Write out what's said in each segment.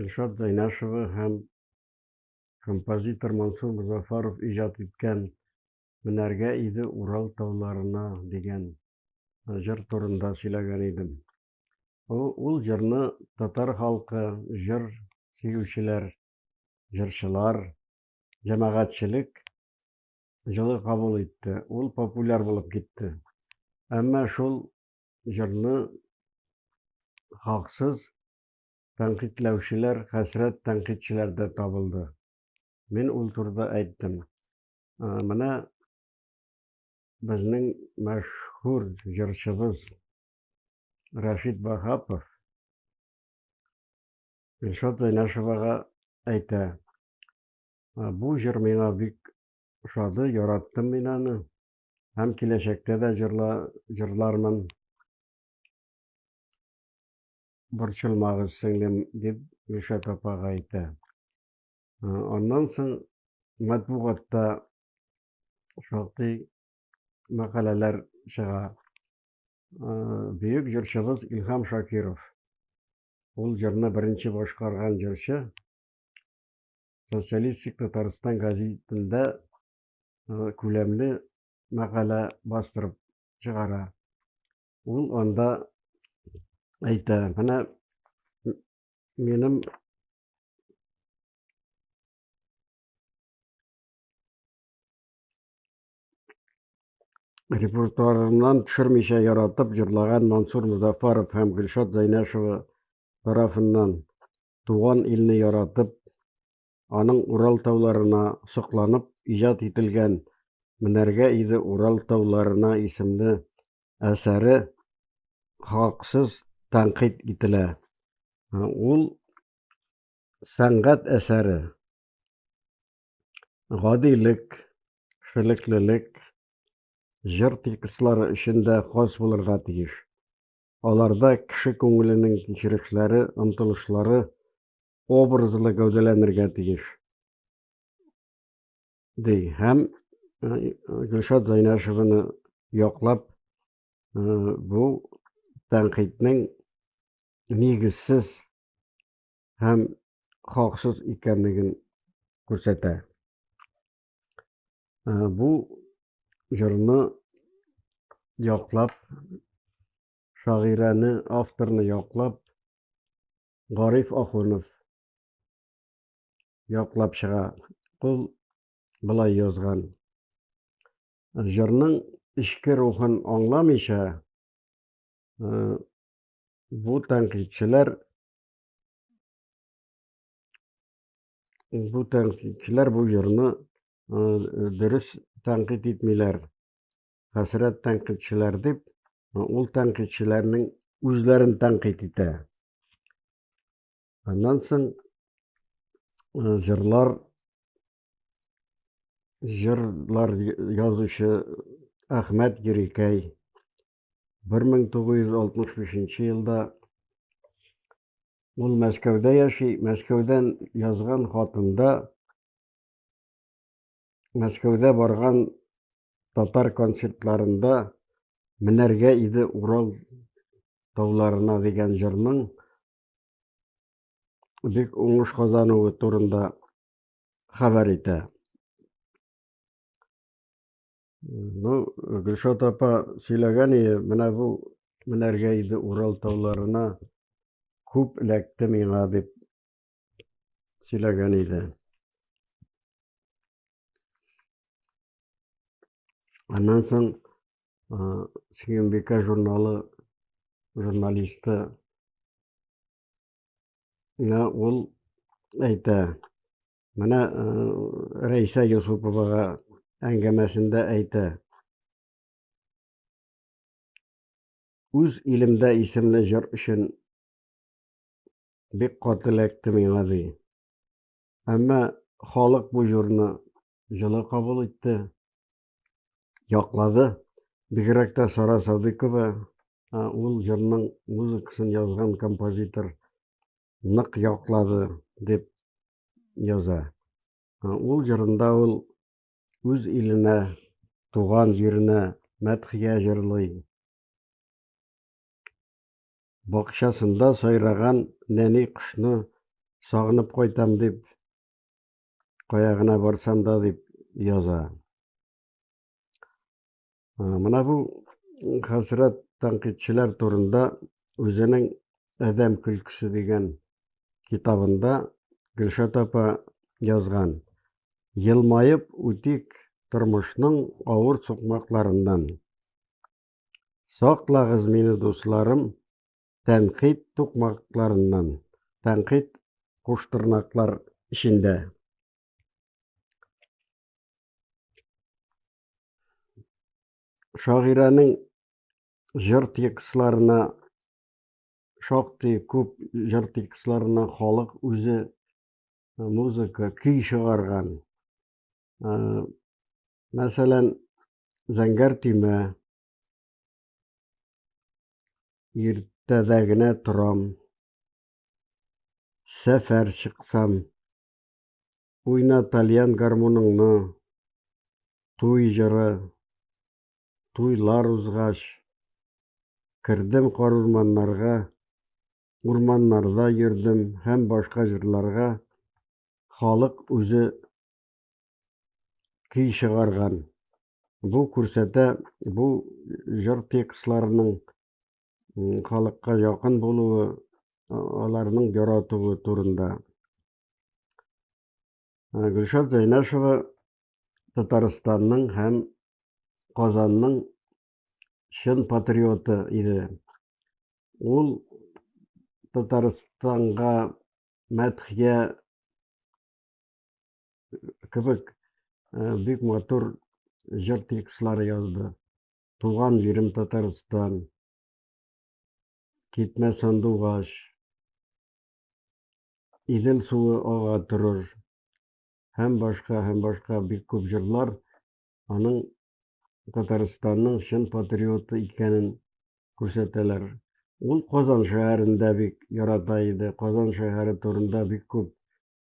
Илшат Зайнашева һәм композитор Мансур Музафаров иҗат иткән Менәргә иде Урал тауларына дигән җыр турында сөйләгән идем. Ул җырны татар халкы, җыр сөючеләр, җырчылар, җәмәгатьчелек җылы кабул итте. Ул популяр булып китте. Әмма шул җырны хаксыз Тәнкыйтьләүчеләр хәсрәт тәнкыйтьчеләр дә табылды. Мин ул турыда әйттем. Менә безнең мәшһүр җырчыбыз Рашид Вахапов Илшат Зайнашевага әйтә. Бу җыр миңа бик ошады, яраттым мин аны. Һәм киләчәктә дә җырла, җырлармын. Борчылмагыз, сеңлем, дип Гөлшат апага әйтә. Аннан соң матбугатта шактый мәкаләләр чыга. Бөек җырчыбыз Илһам Шакиров. Ул җырны беренче башкарган җырчы Социалистик Татарстан газетында күләмле мәкалә бастырып чыгара. Ул анда әйтә, менә минем репертуарымнан төшермичә яратып җырлаган Мансур Музафаров һәм Гөлшат Зайнәшева тарафыннан туган илне яратып, аның Урал тауларына сокланып иҗат ителгән Менәргә иде Урал тауларына исемле әсәре хаксыз тәнкыйть ителә. Ул сәнгать әсәре гадилек, шилеклелек, җыр текстлары өчен дә хас булырга тиеш. Аларда кеше күңеленең кичерешләре, омтылышлары образлы гәүдәләнергә тиеш ди һәм гөлшат зайнашеваны яклап бу тәнкыйтьнең нигезсез һәм хаксыз икәнлеген күрсәтә бу җырны яклап шагыйрәне авторны яклап Гариф Ахунов яклап чыга. Ул былай язган. Җырның эчке рухын аңламыйча, э, бу тәнкыйтьчеләр бу тәнкыйтьчеләр бу җырны э, дөрес тәнкыйть итмиләр. хәсрәт тәнкыйтьчеләр дип, ул тәнкыйтьчеләрнең үзләрен тәнкыйть итә. Аннан соң җырлар җырлар язучы Әхмәт Герикәй 1965 елда ул Мәскәүдә яши, Мәскәүдән язган хатында Мәскәүдә барган татар концертларында Менәргә иде Урал тауларына дигән җырның бик уңыш казануы турында хәбәр итә. Ну, Гөлшат апа сөйләгән иде, менә бу менәргә иде Урал тауларына күп эләкте миңа дип сөйләгән иде. Аннан соң Сөембикә журналы журналисты ул әйтә, менә Рәйсә Юсуповага әңгәмәсендә әйтә. Үз илемдә исемле җыр өчен бик каты эләкте миңа, ди. Әмма халык бу җырны җылы кабул итте, яклады. Бигрәк тә Сара Садыкова, ул җырның музыкасын язган композитор нык яклады дип яза. Ул җырында ул үз иленә, туган җиренә мәдхия җырлый. бакчасында сайраган нәни кошны сагынып кайтам дип, кая гына барсам да дип яза. Мына бу хәсрәт тәнкыйтьчеләр турында үзенең Әдәм көлкесе дигән китабында Гөлшат апа язган. Елмаеп үтик тормышның авыр сукмакларыннан. Саклагыз мине, дусларым, тәнкыйть тукмакларыннан, тәнкыйть куштырнаклар эчендә. Шагыйрәнең җыр текстларына шактый күп җыр текстларына халык үзе музыка, көй чыгарган. Мәсәлән, зәңгәр төймә. Иртәдә генә торам. Сәфәр чыксам. Уйна тальян гармуныңны. Туй җыры. Туйлар узгач. Кердем кар урманнарга. Урманнарда йөрдем һәм башка җырларга халык үзе көй чыгарган. Бу күрсәтә бу җыр текстларының халыкка якын булуы, аларның яратуы турында. Гөлшат Зәйнәшева Татарстанның һәм Казанның чын патриоты иде. Ул Татарстанга мәдхия кебек э, бик матур җыр текстлары язды. Туган җирем Татарстан, китмә сандугач, Идел суы ага торыр һәм башка һәм башка бик күп җырлар аның Татарстанның чын патриоты икәнен күрсәтәләр. Ул Казан шәһәрендә бик ярата иде. Казан шәһәре турында бик күп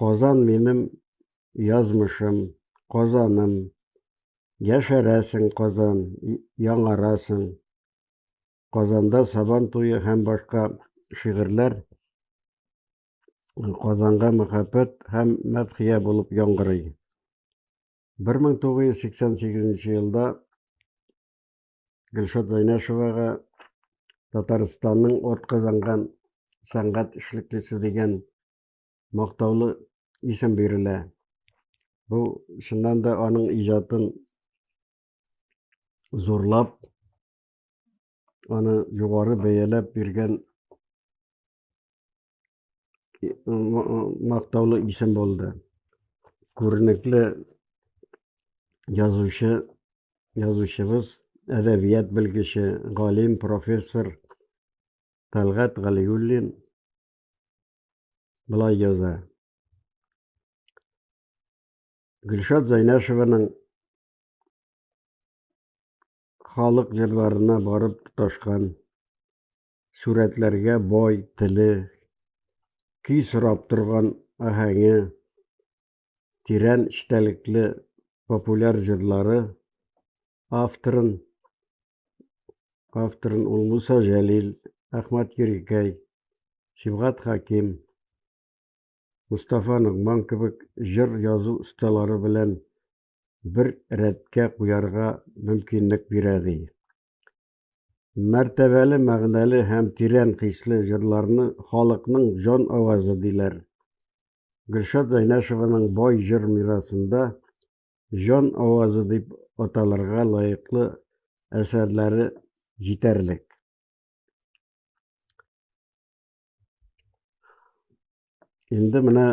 Казан минем язмышым, Казаным. Яшәрәсең, Казан, яңарасың. Казанда Сабан туе һәм башка шигырьләр Казанга мәхәббәт һәм мәдхия булып яңгырый. 1988 елда Гөлшат Зайнашевага Татарстанның от казанган сәнгать эшлеклесе дигән мактаулы исем бирелә. Бу чыннан да аның иҗатын зурлап, аны югары бәяләп биргән мактаулы исем булды. Күренекле язучы, язучыбыз, әдәбият белгече, галим, профессор Талгат Галиуллин былай яза. Гөлшат Зайнашеваның халык җырларына барып тоташкан Сурәтләргә бай теле, көй сорап торган аһәңе, тирән эчтәлекле популяр җырлары авторын авторын ул Муса Җәлил, Әхмәт Ерикәй, Сибгат Хаким, Мустафа Ногман кебек җыр язу осталары белән бер рәткә куярга мөмкинлек бирә ди. Мәртәбәле, мәгънәле һәм тирән хисле җырларны халыкның җан авазы диләр. Гөлшат Зайнәшеваның бай җыр мирасында җан авазы дип аталырга лаеклы әсәрләре җитәрлек. Инде менә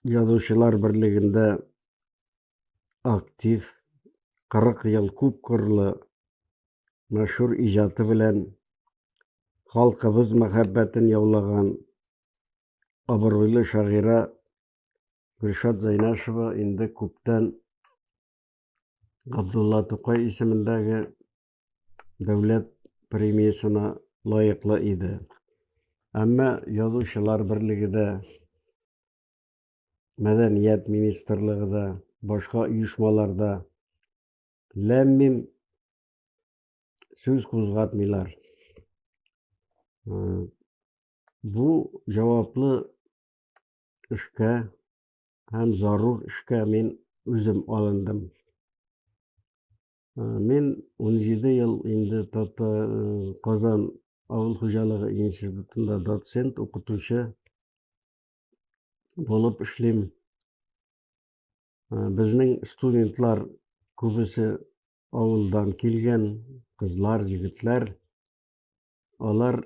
Язучылар берлегендә актив, 40 ел күп кырлы мәшһүр иҗаты белән халкыбыз мәхәббәтен яулаган абруйлы шагыйрә Гөлшат Зайнашева инде күптән Габдулла Тукай исемендәге дәүләт премиясенә лаеклы иде. Әмма язучылар берлеге дә, мәдәният министрлыгы да, башка оешмалар да ләммим сүз кузгатмыйлар. Э, бу җаваплы эшкә һәм зарур эшкә мин үзем алындым. Мин 17 ел инде Тата Казан авыл хуҗалыгы институтында доцент, укытучы булып эшлим. Безнең студентлар күбесе авылдан килгән, кызлар, егетләр. Алар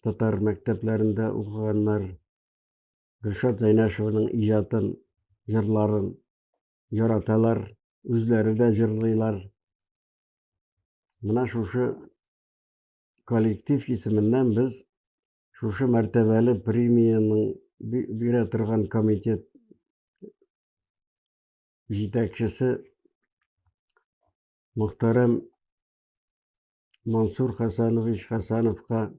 татар мәктәпләрендә укыганнар. Гөлшат Зәйнәшеваның иҗатын, җырларын яраталар, үзләре дә җырлыйлар. Менә шушы коллектив исеменнән без шушы мәртәбәле премияның бирә торган комитет җитәкчесе мөхтәрәм Мансур Хасанович Хасановка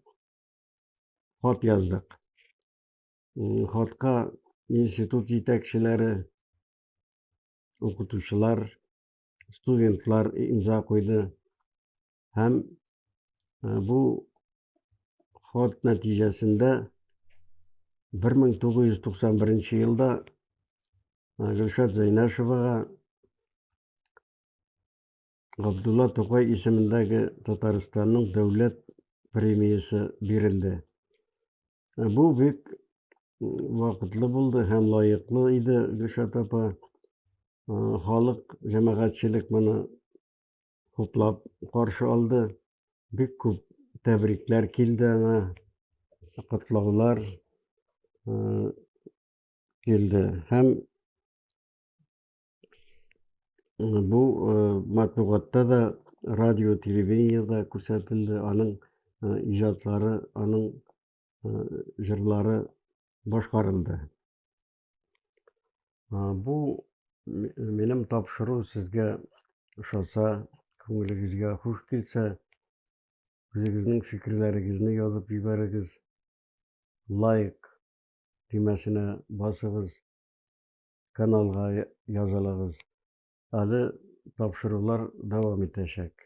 хат яздык. хатка институт җитәкчеләре, укытучылар, студентлар имза куйды. Һәм бу хат нәтиҗәсендә 1991 елда Гөлшат Зәйнәшевага Габдулла Тукай исемендәге Татарстанның дәүләт премиясе бирелде. Ә бу бик вакытлы булды һәм лаеклы иде Гөлшат апа. Халык, җәмәгатьчелек моны хуплап каршы алды. Бик күп тәбрикләр килде аңа, котлаулар килде һәм Бу матбугатта да, радио, телевидениедә күрсәтелде. Аның иҗатлары, аның җырлары башкарылды. Бу минем тапшыру сезгә ошаса, күңелегезгә хуш килсә, үзегезнең фикерләрегезне язып җибәрегез. Лайк төймәсенә басыгыз. каналга язылыгыз. Әле тапшырулар дәвам итәчәк.